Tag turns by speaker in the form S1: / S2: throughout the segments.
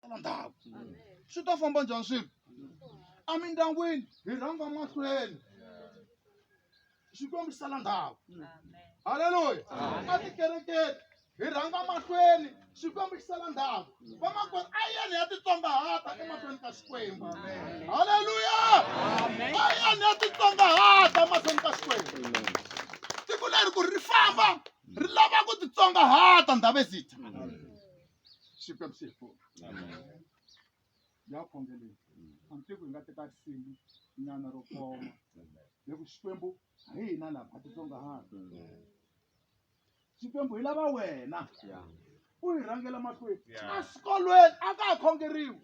S1: tala ndhawu swi ta famba njhani swilo emindyangwini hi rhanga mahlweni xikwembu xi sala ndhawu halleluya a tikerekeni hi rhanga mahlweni xikwembu xi sala ndhawu vamakwerhu a yeni ya titsongahata emahlweni ka xikwembu halleluya a yeni ya titsongahata emahlweni ka xikwembu tiko leri ku ri famba ri lava ku titsongahata ndhavezitha siku ya msifu ya khongeleni amtiko hi nga teka risimu nyana ro koma hi ku xikwembu hi hina lava a titsongahani xikwembu hi lava wena u hi rhangela mahlweni eswikolweni a ka ha khongeriwi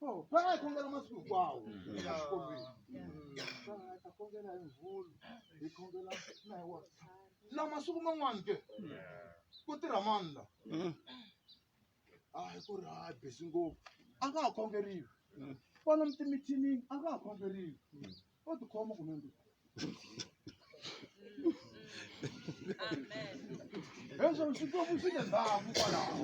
S1: oh, va nga hi khongela masiku hinkwawo exikolweni va nga hi ta khongela hi mvulu hi khongela na hi wasati la masiku man'wani ke ku tirha mani la a hi ku ri ha busy ngopfu a nga ha khongeriwi kwala mitimithinini a nga ha khongeriwi o tikhoma kumbe ndi heswo xikwembu xi le ndhaku kwalaho